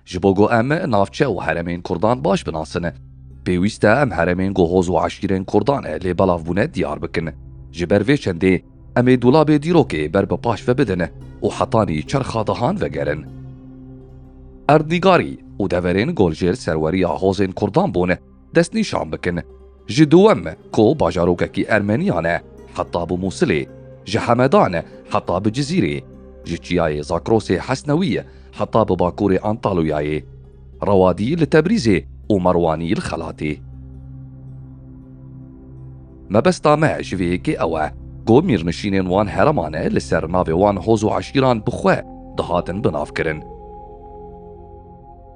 Ji bo ku em navçe û heremên Kurdan baş binasine, pêwîst e em heremên ku hoz û eşîrên Kurdan e lê belav bûne diyar bikin. Ji ber vê çendê em ê dolabê dîrokê ber bi paş ve bidin û hetanî çerxa dehan vegerin. Erdnîgarî û deverên Goljêr serweriya hozên Kurdan bûn. destnîşan bikin. Ji dûwem ku bajarokekî Ermeniyan e heta bi Mûsilê, ji Hemedan heta bi Cizîrê, ji çiyayê Zakrosê Hesnewî heta bi bakurê Antalûyayê, Rewadî li Tebrîzê û Merwanî li Xelatê. Mebesta me ji vê yekê ew e ku mîrnişînên wan hereman e li ser navê wan hoz û eşîran bi xwe dihatin binavkirin.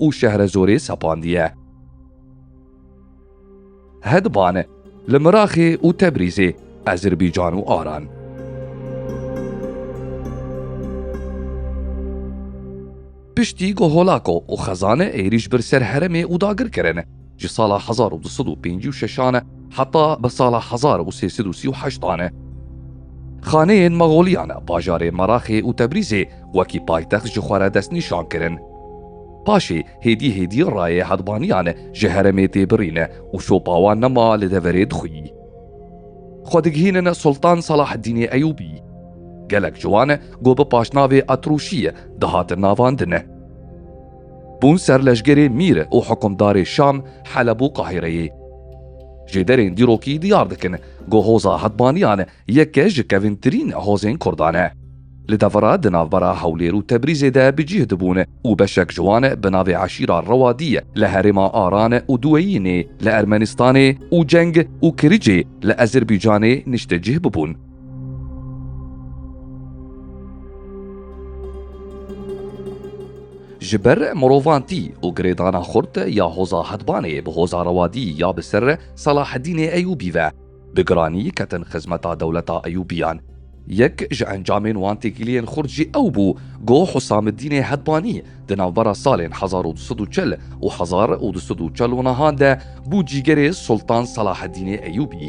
û Şehrezorê sepandiye. Hedban, li Miraxê û Tebrîzê, Ezirbican û Aran. Piştî ku holako û xezan êrîş bir ser heremê û dagirkirin, ji sala hezar û du sed û pêncî û şeşan e heta bi sala hezar û sê sed û sî û heştan e. Xaneyên Maxoliyan bajarê Meraxê û Tebrîzê wekî paytext ji xwe re destnîşan kirin. Paşê hêdî hêdî rayê hedbaniyan ji heremê tê birîne û şopa wan nema li deverê dixwî. Xwe digihînin Sultan Salaheddînê Eyûbî. Gelek ciwan e ku bi paşnavê Atrûşî dihatin navandin. Bûn ser leşgerê Mîr û hikumdarê Şam, Heleb û Qahîreyê. Ji derên dîrokî diyar dikin ku hoza Hetbaniyan yeke ji kevîntirîn hozên Kurdan e. Li devera di navbera Hewlêr û Tebrîzê de bi cîh dibûn û beşek ji wan bi navê eşîra Rewadî li herêma Aran û Duweyînê li Ermenistanê û Ceng û Kiricê li Ezirbîcanê niştecîh bibûn. Ji ber mirovantî û girêdana xurt ya Hoza Hedbanê bi Hoza Rewadî ya bi ser Selahedînê Eyûbî ve bi giranî ketin xizmeta dewleta Eyûbiyan. Yek ji encamên wan têkiliyên xurt jî ew bû ku Husamedînê Hedbanî di navbera salên hezar û du sed û çil û hezar û du sed û çel û nihan de bû cîgerê Sultan Selahedînê Eyûbî.